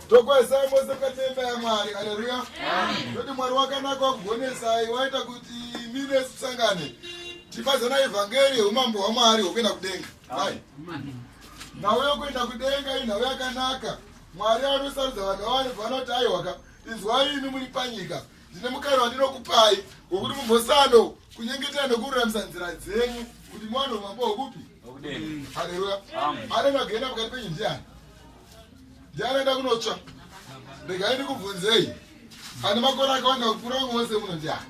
tokwesa mose mukati memba yamwari aleluya toti mwari wakanaka wakugonesai waita kuti miri yesu tisangane tifadzana evhangeri yeumambo hwamwari hwokuenda kudenga ai nhau yokuenda kudenga inhau yakanaka mwari anosarudza vanhu vavanobva vanoti aiwaka izwai imi muri panyika ndine mukana wandinokupai wokuti mumbosando kunyengetera nokururamisa nzira dzenyu kuti mwana umambo hwekupi haleluya anenge agenda pakati penyu ndiani ndiani enda kunotsva regai ndikubvunzei ane makore akawanda kupfuura vamwe vose muno ndiani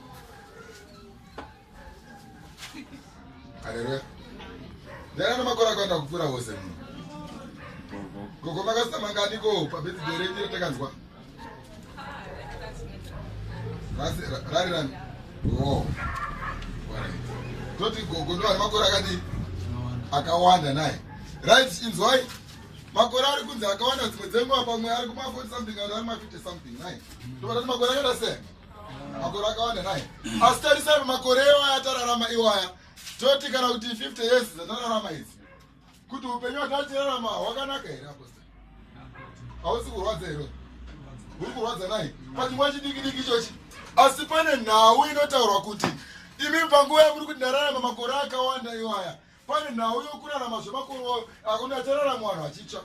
Haleluya. Ndana namakora kwanda kupura wose muno. Gogo makasita mangani ko pa birthday renyu ratakanzwa. Rasi rari rani. Oh. Toti gogo ndo makora akati akawanda naye. Right inzwai. Makore ari kunzi akawanda dzimwe dzenguva pamwe ari kuma 40 something ari kuma 50 something naye. Tobata makore akadasiyana. makore akawanda nai asi tarisai makore iwaya atararama iwaya toti kana kuti 50 years dzatararama idzi kuti upenyu hwatatirarama hwakanaka here aposta hausi kurwadza here uri kurwadza nai pachingwa chidiki diki ichochi asi pane nhau inotaurwa kuti imi panguva yamuri kuti ndararama makore akawanda iwaya pane nhau yokurarama zvemakore akona achararama vanhu vachitsva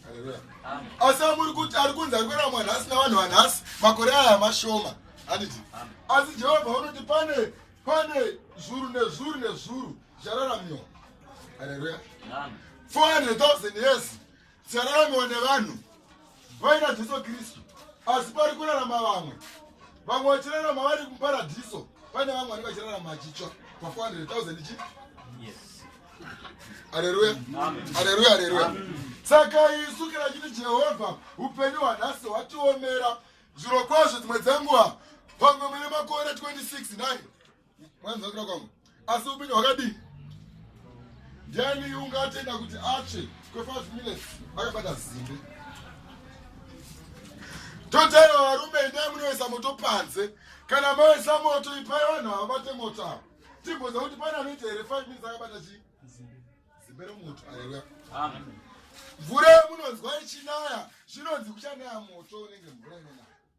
haleluya asi amuri kuti ari kunzi ari kurarama vanhu asina vanhu vanhasi makore aya mashoma handiti asi jehovha vanoti pane pane zvuru nezvuru nezvuru zvararamiwa haleluya 400 000 years Tsaramiwa nevanhu vaina Jesu Kristu, asi pari kurarama vamwe. Vamwe vachirarama vari muparadhiso, pane vamwe vanenge vachirarama vachitsva pa 400,000 chi. Haleluya, haleluya, haleluya. Saka isu kana chiti Jehovha upenyu hwanhasi hwatiomera, zviro kwazvo dzimwe dzenguva pamwe mune makore 26 naye mwanzakira kwangu asi upenyu hwakadii ndiani ungatenda kuti atsve kwe5 minutes akabata zimbe totaiwa varume endai munoisa moto panze kana moisa moto ipai vanhu havabate moto avo timboza kuti pane anoita here 5 minutes akabata chii zimbe remoto aleluya mvura yemunonzwa ichinaya zvinonzi kuchanaya moto unenge mvura inonaya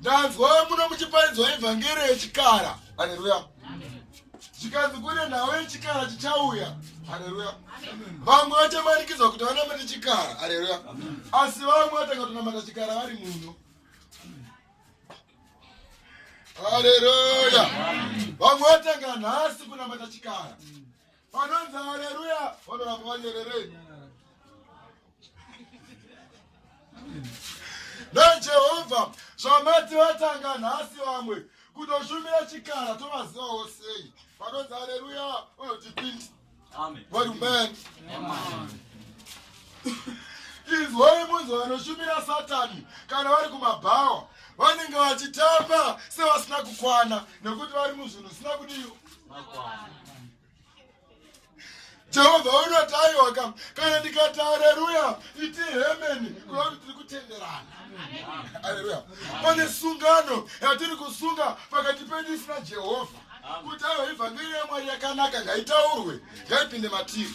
ndanzwa muno muchiparidzwa evhangeri yechikara haleluya chikanzi kune nhau yechikara chichauya haleluya vamwe vachamanikidzwa kuti vanamate chikara haleluya asi vamwe vatanga kutonamata chikara vari muno haleluya vamwe vatanga nhasi kunamata chikara Vanonzi haleluya vanoramba vanyerere. NaJehovha zvamati vatanga nhasi vamwe kutoshumira chikara tovazivawo sei vanonzi haleluya vanoti pindi vari mani izwai munzi vanoshumira satani kana vari kumabhawa vanenge vachitamba sevasina kukwana nekuti vari muzvinhu zvisina kudiwa jehovha vanoti aiwa kam kana ndikati areruya iti hemeni kureva kuti tiri kutenderana areruya pane sungano yatiri kusunga pakati pedu isina jehovha kuti aiwa ivhangeri yamwari yakanaka ngaitaurwe ngaipinde matiri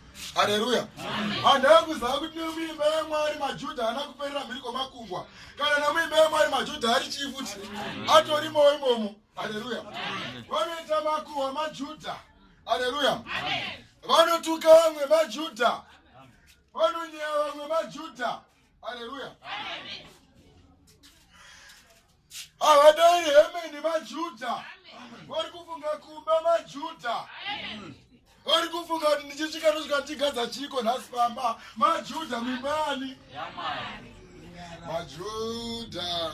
haleluya handava kuzava kuti nemuimba yamwari majudha haana kuperera mhiri kwamakungwa kana nemuimba yamwari majudha ari chii futi atorimowo imomo haleluya vanoita makuhwa majudha haleluya vanotuka vamwe majudha vanonyaya vamwe majudha Hallelujah. Amen. Havadai hemeni maJuda. Vari kufunga kumba maJuda. Amen. Vari kufunga kuti ndichisvika ndosvika ndichigadza chiko nhasi pamba maJuda mimani. Yamani. Majuda.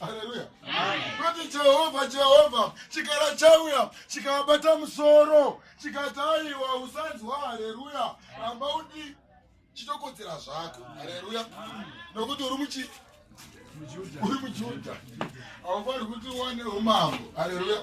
haleluya kuti jehovha jehovha chikara chauya chikabata musoro chikati aiwa usanzwa haleluya ramba undi chitokodzera zvako haleluya nokuti uri muchi uri mujudha haufaniri kuti uwane umambo haleluya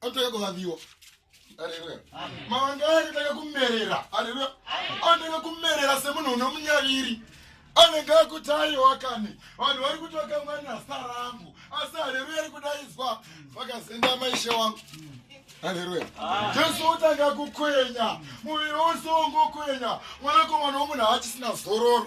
Anotanga kuvaviwa. Haleluya. Mawanga anotanga kumerera. Haleluya. Anotanga kumerera semunhu unomunyaviri. Anenge akutayi wakani. Vanhu vari kuti wakamwana sarangu. Asi haleluya ari kudaidzwa. Vakazenda maishe wangu. Haleluya. Jesu utanga kukwenya. Muviri wose wongokwenya. Mwanakomana womunhu haachisina zororo.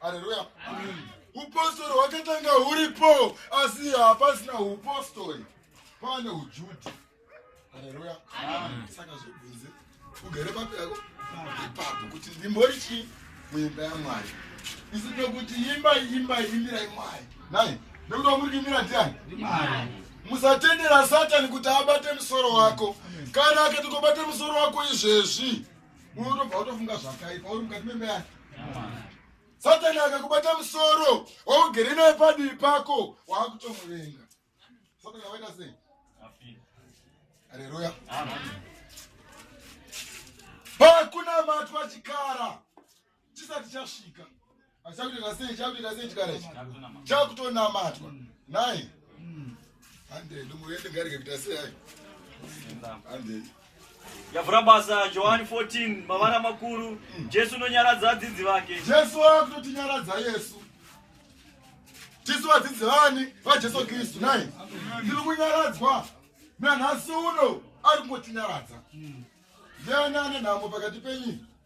haleluya upostori hwakatanga huripo asi hapasina upostori kwaane ujudi haleluya saka zvibvunze ugere papi yako ipapo kuti ndimbori chii muimba yamwari isi nekuti imba imba imirai mwari nai nekuti wamuri kuimira ndiani musatendera satani kuti abate musoro wako kana akati kobate musoro wako izvezvi unotobva utofunga zvakaipa uri mukati memba yake satani akakubata musoro waugere naye padivi pako waakutomuvenga satani akaita sei aleluya pakunamatwa chikara chisati chasvika achakutoita sei chakutoita sei chikara ichi chakutonamatwa nai handei ndongoende ngarike kuita sei ai handei yavhura basa johani 14 mavara makuru jesu unonyaradza adzidzi vake jesu akutotinyaradza yesu tisu vadzidzi vani vajesu kristu nai tiri kunyaradzwa nanhasi uno ari kungotinyaradza ndiani ane nhamo pakati penyu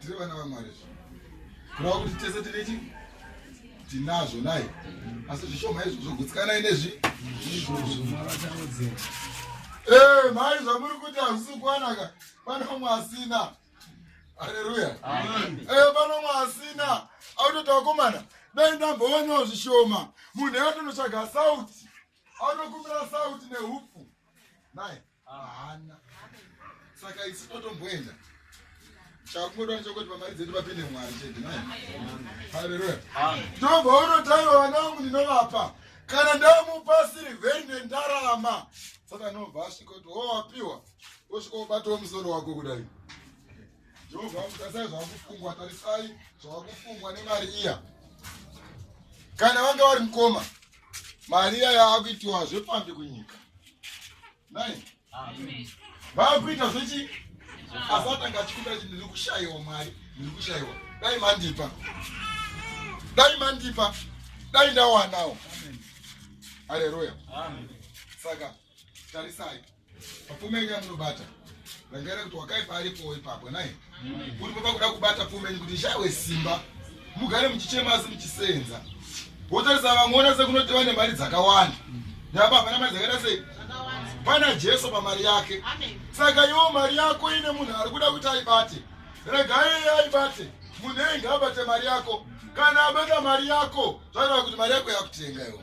tiri vana vamwari kurava kuti tese tine chi tinazvo nai asi zvishoma izvozvo gutsikanai nezvi eh, mari zvamuri kuti hazvisi kuwanaka pane vamwe asina aleluya eh, pane vamwe asina autota vakomana dai ndambowanawo zvishoma munhu yatonotsvaga sauti anokumbira sauti neupfu nai Haana. Saka isu totomboenda. Chakungoda chokuti pamari dzedu papinde Mwari chete. Haleluya. Ndobvaona taiva vana vangu ndinovapa. Kana ndamupa sirivheri nendarama. Saka anobva asvika kuti wowapiwa. Wosvika wobatawo musoro wako kudai. Jehovha tarisai zvakufungwa tarisai zvakufungwa nemari iya. Kana vanga vari mukoma mari iya yaakuitiwa zvepfambi kunyika nai vaakuita zvechi asatanga achikuda kuti ndiri kushayiwa mari ndiri kushayiwa dai mandipa dai mandipa dai ndawanawo aleluya saka tarisai pfume yenyu yamunobata rangaira kuti wakaipa aripowo ipapo nai kuti papa kuda kubata pfume yenyu kuti ishawe simba mugare muchichema asi muchisenza wotarisa vamwe wona sekunoti vane mari dzakawanda napa hapana mari dzakaita sei pana jesu pamari yake saka iwo mari yako ine munhu ari kuda kuti aibate regai iye aibate munhu engi abate mari yako kana abata mari yako zvaireva kuti mari yako yakutenga iwo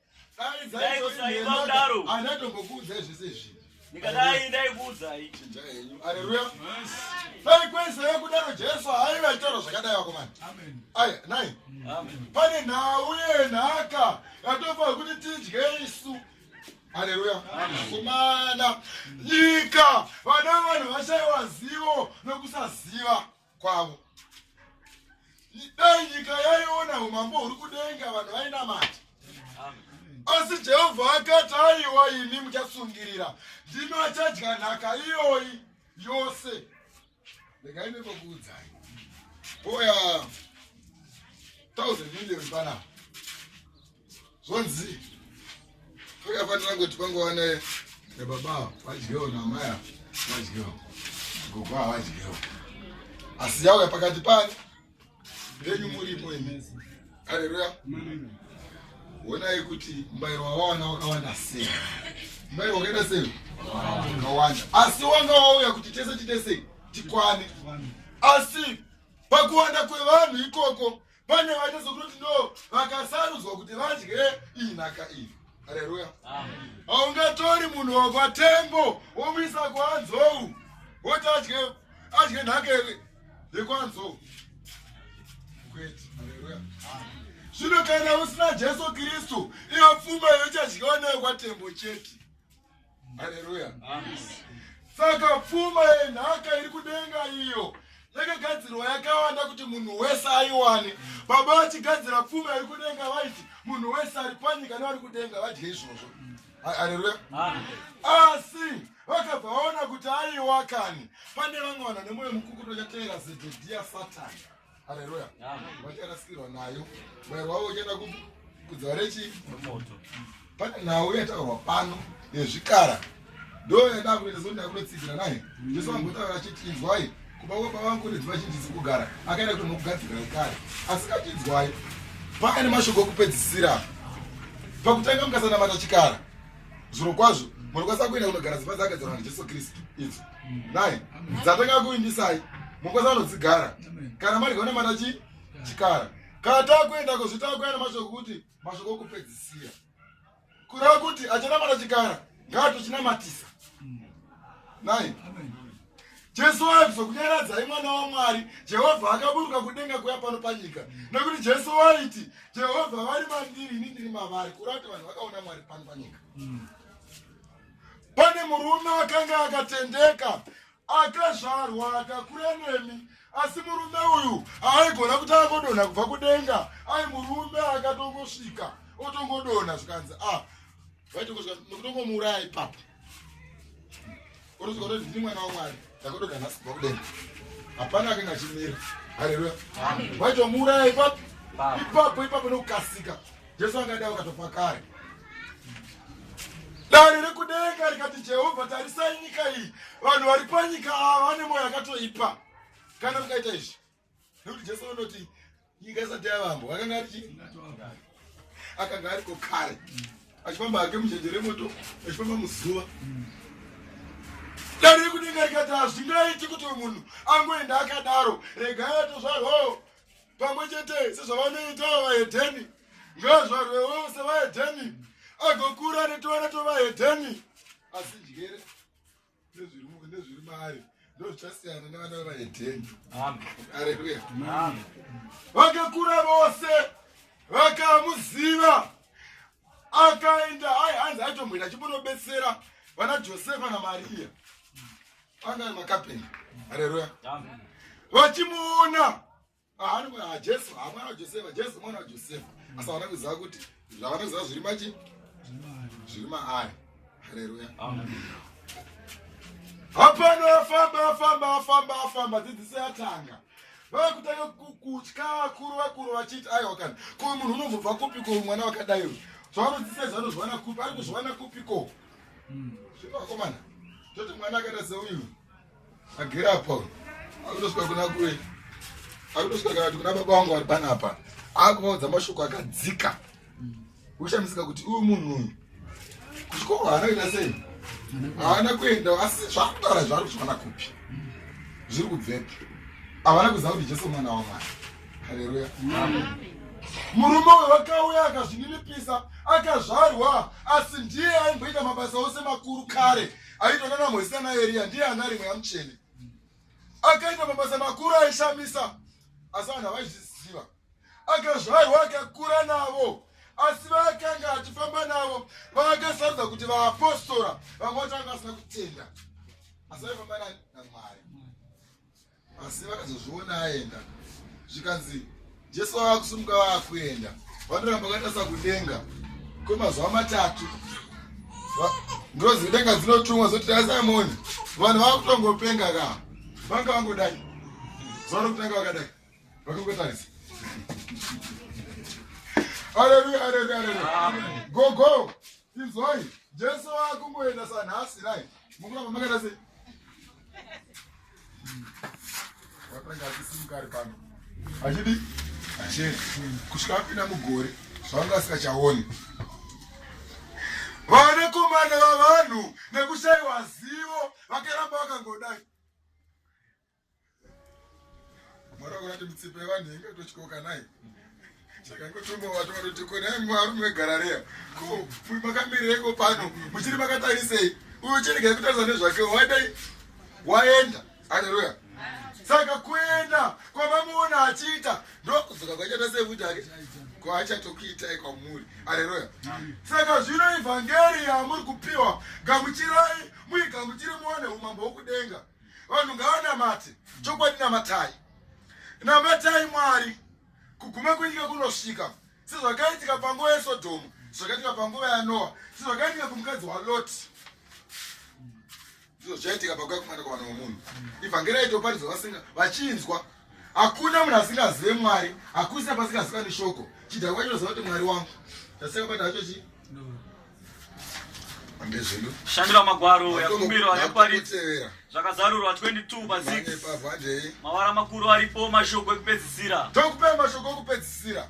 ndikadai ndaikuudzai chinja henyu aleluya dai kwese yekudaro jesu haive achitaura zvakadai vakomana aya nai pane nhau yenhaka yatofanira kuti tidye isu haleluya kumana nyika vana vanhu vashaiwa zivo nokusaziva kwavo dai nyika yaiona umambo huri kudenga vanhu vainamati asi jehovha akati aiwa imi muchasungirira ndino achadya nhaka iyoyi yose regai nekokuudzai oya 1000 million panapa Zvonzi pakafanira kuti pangova ne nebaba vadyewo namaya vadyewo gogo havadyewo asi yauya pakati pani venyu muripo imi aleluya wonai kuti mubayiro wawawana wakawanda sei mubayiro wakaenda sei wakawanda asi wanga wauya kuti tese tite sei tikwane asi pakuwanda kwevanhu ikoko pane vaitadza kutoti no vakasarudzwa kuti vadye iyi nhaka iyi hareruya haungatori munhu wobva tembo womuisa kuanzou woti adye adye nhaka yekuanzou kwete hareruya zvino kana usina jesu kristu iyo pfuma yochadyiwa nayo kwatembo chete haleluya saka pfuma yenhaka iri kudenga iyo yakagadzirwa yakawanda kuti munhu wese aiwane baba vachigadzira pfuma iri kudenga vaiti munhu wese ari panyika nevari kudenga vadye izvozvo haleluya asi vakabva vaona kuti aiwa kani pane vamwe vanhu nemoyo mukukuto chateera zedhedhiya satani Haleluya. Amen. Wachana sikirwa nayo. Mwero wavo uchienda ku kudzwa rechi moto. Pane nhau yataurwa pano yezvikara. Ndo yada kuita zoni yakunotsigira naye. Jesu angotaura achiti inzwai kuba kwa baba vangu ndidzo vachinjisi kugara. Akaenda kuti nokugadzira kare. Asi kachinzwai. Paka ne mashoko okupedzisira. Pakutanga mukasanamata chikara. Zviro kwazvo. Munokwanisa kuenda kunogara zipa dzakadzirwa naJesu Kristu. Idzo. nai dzatanga kuvimbisai mukwasa vanodzigara kana mari gaona mata chi chikara kana takuenda kuzvitakuenda mashoko kuti mashoko okupedzisira kureva kuti achana mata chikara ngaatochinamatisai nai jesu waibva kunyaradzai mwana wamwari jehovha akaburuka kudenga kuya pano panyika nekuti jesu waiti jehovha vari mandiri ini ndiri mavari kureva kuti vanhu vakaona mwari pano panyika mm. Pane murume akanga akatendeka akazvarwa akakura nemi asi murume uyu aaigona kuti angodonha kubva kudenga ai murume akatongosvika otongodonha zvikanzi a ah, vaitokotongomuuraya ipapo orozikoti ndini mwana wamwari ndakudonha nhasi kubva kudenga hapana akanga achimira haleluya vaitomuuraya ipapo ipapo ipapo nokukasika Jesu angadai wakatofa kare. Dare rekudenga rikati Jehovha, tarisai nyika iyi, vanhu vari panyika ava vane mwoyo yakatoipa. Kana mukaita izvi, nekuti Jesu anoti nyika isati yavambwa, akanga ari chii? Akanga ariko kare, achifamba hake mujenje remoto, achifamba muzuva. Dare rekudenga rikati hazvingaiti kuti munhu angoenda akadaro, regai atozvarwawo pamwe chete sezvavanoitawo vahedheni ngazvarwe wose vahedheni agokura netoana tovahedheni asi njere nezviri maari ndozvichasiyana nevana vevahedheni aleluya vakakura vose vakamuziva akaenda ai hanzi aitomboenda achimbono betsera vana josefa namariya Anga makapenda. Haleluya. Amen. Vachimuona. Ahani kwa Jesu, amwana wa Josefa, Jesu mwana wa Josefa. Asa wana kuziva kuti zvawana kuziva zviri machi? Zviri maari. Haleluya. Amen. Hapana famba famba famba famba dzidzisi yatanga. Vava kutanga kutya vakuru vakuru vachiti aiwa kana ko munhu unobvobva kupi ko mwana wakadai uyu. Zvavanodzisa izvi vanozviwana kupi ari kuzviwana kupi ko. zvepakomana toti mwana akaita seuyu agere apa akutosvika kuna kure akutosvika kana kuti kuna baba wangu ari panapa akuvaudza mashoko akadzika kushamisika kuti uyu munhu uyu kuchikoro haana kuita sei haana kuenda asi zvaakutaura zvaari kuzviwana kupi zviri kubvepi havana kuziva kuti jesu mwana wamwana haleluya murume uyo wakauya akazvininipisa akazvarwa asi ndiye aimboita mabasa ose makuru kare aitona namwezi ana eriya ndiye ana rimwe yamuchene akaita mabasa makuru aishamisa asi vanhu havaizviziva akazvarwa akakura navo asi vaakanga achifamba navo vaakasarudza kuti vaapostora vamwe vacho vanga vasina kutenda asi vaifamba namwari asi vakazozviona aenda zvikanzi jesu vava kusumuka vava kuenda vanoramba vakatarisa kudenga kwemazuva matatu ndozi denga dzinotumwa zoti asimoni vanhu vava kutongopenga ka vanga vangodai zuva rokutanga vakadai vakangotarisa aleluya aleluya aleluya gogo Inzwai, Jesu akungoenda sanhasi rai. Mukuramba makaita sei? Watanga achisimukari pano. Achidi? Achidi. Kusvika apinda mugore zvanga asikachaoni. Vanakomana vavanhu nekushaiwa zivo vakaramba vakangodai. Mwari wakurati mitsipa yevanhu inge tochikoka naye chakangotombovato vatoti konai mwarume wegarareya ko makamirireko pano muchiri makatarisei uyo chiregai kutarisa nezvake waidai waenda aleluya saka kuenda kwamamuona achiita ndokudzoka kwachaita sekuti ake kwaachatokuitai kwamuri aleluya saka zvino ivhangeri yamuri kupiwa gamuchirai muigamuchiri muone umambo wokudenga vanhu ngavanamate chokwadi namatai namatai mwari kuguma kwenyika kunosvika sezvakaitika panguva yesodhomu zvakaitika panguva yanoa sezvakaitika kumukadzi waloti ndizvo zvaitika pakuya kumwana kwavana wamunhu ivhangeri aitoparidzwa vasinga vachinzwa hakuna munhu asingazive mwari hakusina pasingaziwani shoko chidhakwa kwacho noziva kuti mwari wangu chaseka bata hacho chii shandira magwaro yakumbirwa neparidzi zvakazarurwa 22 pa6 mavara makuru aripo mashoko ekupedzisira tokupe mashoko okupedzisira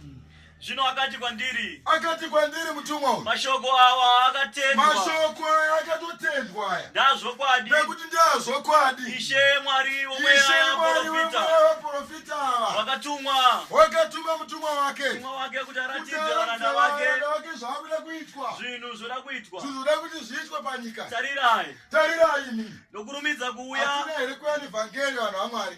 Zvino akati kwandiri, akati kwandiri mutumwa uyu, mashoko awa akatendwa, mashoko aya akatotendwa aya, ndazvokwadi, nekuti ndazvokwadi, Ishe Mwari womweya waprofita ava, wakatumwa, wakatuma mutumwa wake, mutumwa wake kuti aratidze varanda vake zvakuda kuitwa, zvinhu zvoda kuitwa, zvinhu zvoda kuti zviitwe panyika. Tarirai, tarirai, imi nokurumidza kuuya, atina here kuya nevhangeri vanhu vaMwari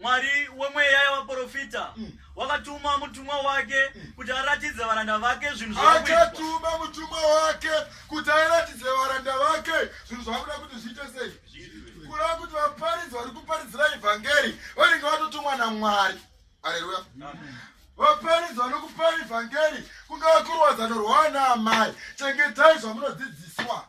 Mwari wemweya yavaprofita mm. wakatuma mutumwa wake mm. kuti aratidze varanda vake zvinhu akatuma mutumwa wake kuti aratidze varanda vake zvinhu zvakuda kuti zviite sei kureva kuti vaparidzi vari kuparidzira evhangeri vanenge vatotumwa namwari aleluya vaparidzi vanokupara evhangeri kungava kurwadzano rwaana amai chengetai zvamunodzidziswa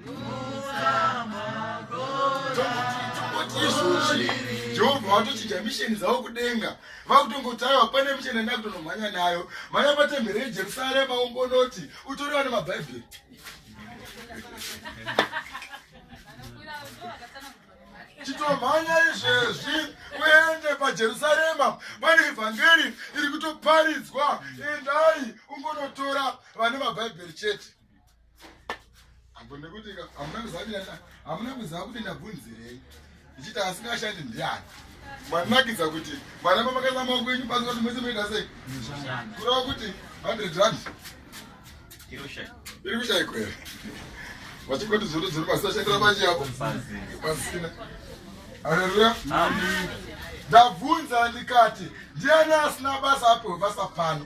jehovha vatochija misheni dzavo kudenga vakutongotaiwa pane misheni yanda kutonomhanya nayo mhanya patembere yejerusarema umbonoti utoriwa nemabhaibheri chitomhanya izvezvi uende pajerusarema pane evhangeri iri kutoparidzwa endai ungonotora vane mabhaibheri chete hamuna kuziva kuti ndabvunzirei ndichiti asingashandi ndiani manakidza kuti mwana mamakaisa maoko enyu pasi kuti mese moita sei kureva kuti hundred rand iri kushaiko here vachingoti zvoto dziri pasi vashandira manje yavo pasina aleluya ndabvunza ndikati ndiani asina basa apo basa pano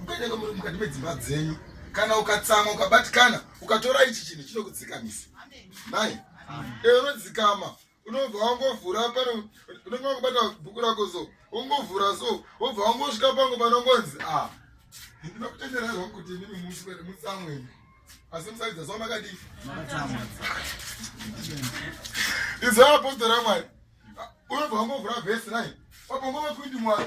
mukanyenga muri mukati medzimba dzenyu kana ukatsamwa ukabatikana ukatora ichi chinhu chinokudzikamisa nai ee unodzikama unobva wangovhura pane unenge wakubata bhuku rako so wongovhura so wobva wangosvika pangu panongonzi a ah, ndinokutenderai zvangu kuti inini muswere mutsamweni asi musaridza so makadii izvo apostora mwari unobva wangovhura vhesi nai wabongo vakuiti mwari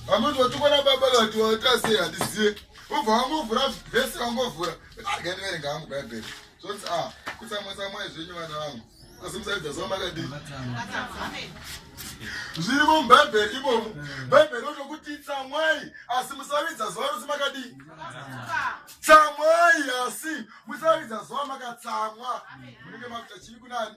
vamoti watukwana baba vati watasei handizive ubva wangovhura vhesi wangovhura akandiverenga hangu bhaibheri zvonzi a ah, kutsamwatsamwai zvenyu vana vangu asi musaridza zva makadii zviri mubhaibheri imomo bhaibheri otokuti tsamwai asi musaridza zuva rosi makadii tsamwai asi musaridza zuva makatsamwa munenge makuta chii kunani